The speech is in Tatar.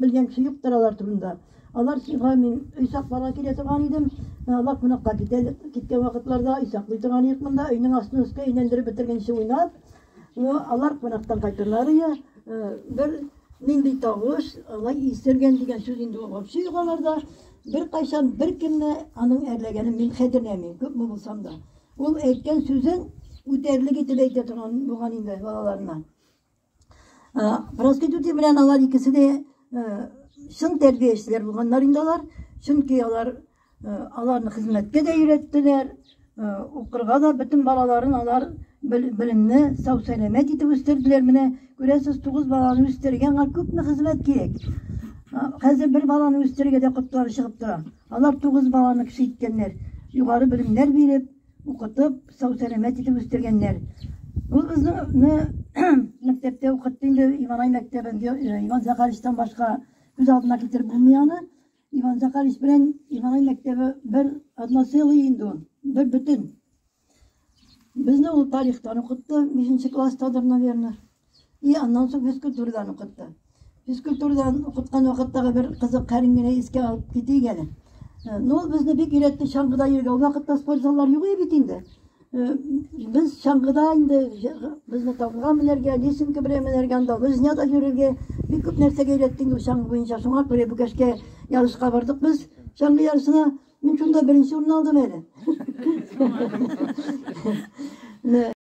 Белгән кеше юктыр алар турында. Алар чига мин өй сакларга килә торган идем. Алар кунакка китә, киткән вакытларда өй саклый торган идек монда. Өйнең астын өскә әйләндереп бетергәнче уйнап, ну, алар кунактан кайтырлар иде. Бер нинди тавыш, алай исергән дигән сүз инде ул вообще юк аларда. Беркайчан беркемне аның әрләгәнен мин хәтерләмим, күпме булсам да. Ул әйткән сүзен үтәрлек итеп әйтә торган булган инде балаларына. Проститути белән алар икесе дә чын тәрбиячеләр булганнар инде алар. Чөнки алар аларны хезмәткә дә өйрәттеләр, укырга да бөтен балаларын алар белемне сау сәламәт итеп үстерделәр. Менә күрәсез, тугыз баланы үстергән аңа күпме хезмәт кирәк. Хәзер бер баланы үстергәдә котлары чыгып тора. Алар тугыз баланы кеше иткәннәр. Югары белемнәр биреп, Укытып, сау-сәламәт итеп үстергәннәр. Ул безне мәктәптә укытты инде, Иванай мәктәбен, э, Иван Захаровичтан башка күз алдына китереп булмый аны. Иван Захарович белән Иванай мәктәбе бер одно целое инде ул, бер бөтен. Безне ул тарихтан укытты, 5 класстадыр, наверное. И аннан соң физкультурадан укытты. Физкультурадан укыткан вакыттагы бер кызык хәлен генә искә алып китик әле. Э, ну, ул безне бик өйрәтте чаңгыда йөргә. Ул вакытта спорт заллар юк иде бит инде. Э, без чаңгыда инде безне тавга менәргә, лесенка белән менәргә, анда лыжняда йөрергә, бик күп нәрсәгә өйрәтте инде чаңгы буенча. Шуңа күрә Бүкәшкә ярышка бардык без. Чаңгы ярышына мин шунда беренче урын алдым әле.